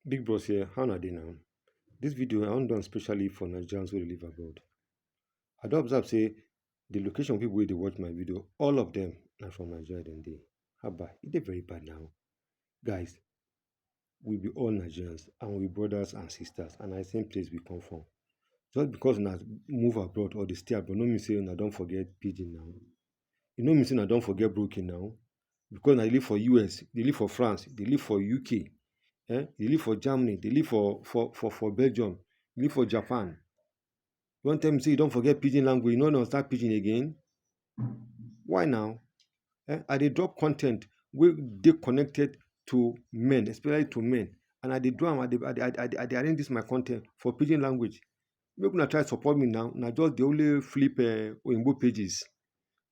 Big boss here, how na dey now? This video I wan do am specially for Nigerians wey dey live abroad. I don observe say the location people wey dey watch my video, all of them na from Nigeria dem dey. Haba, e dey very bad now. Guys, we be all Nigerians and we be brothers and sisters and na the same place we come from. Just because una move abroad or dey stay abroad no mean say una don forget pidgin now. You know me say I don't forget broken now because I live for US, they live for France, they live for UK, eh? they live for Germany, they live for for for, for Belgium, they live for Japan. You want to tell me say you don't forget pidgin language, you know not start pidgin again? Why now? Eh? I they drop content where they connected to men, especially to men. And I they do I they, I, they, I, they, I they arrange this my content for pidgin language. make una try support me now na just dey only flip eh, oyinbo pages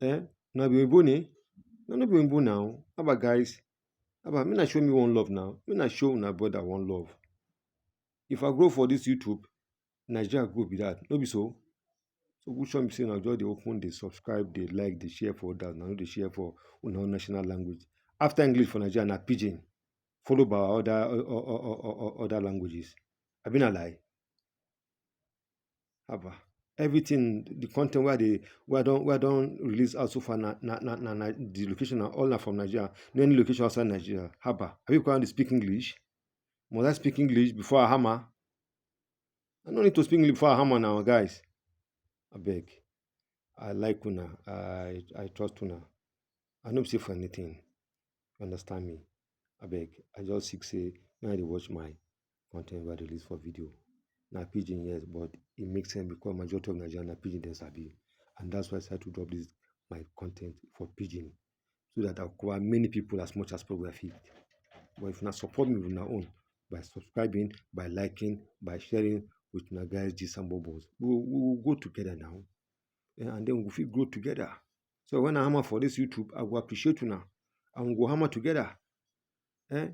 eh na be oyinbo ni na no be oyinbo now haba guys haba make na show me one love now make na show una brother one love if i grow for this youtube nigeria grow be that no be so so which show me say na just dey open dey subscribe dey like dey share for others na no dey share for una own national language after english for nigeria na pidgin followed by other other languages abi na lie haba everything the content where they where don't where don't release out so far na na na na na the location are all na from nigeria no any location outside nigeria haba are you going to speak english must i speak english before i hammer i no need to speak english before i hammer now guys I beg. i like una i i trust una i no be say for anything you understand me I beg. i just sick say now they watch my content wey I dey release for video na pidgin yes but e make sense because majority of Naija na pidgin dem sabi and that's why I decide to drop this my content for pidgin so that I go cover many people as much as possible I fit but if una support me with una own by subscribing by liking by sharing with una guys gist and bubbles we go we go grow together now um and then we go fit grow together so when I hammer for this YouTube I go appreciate una and we go hammer together um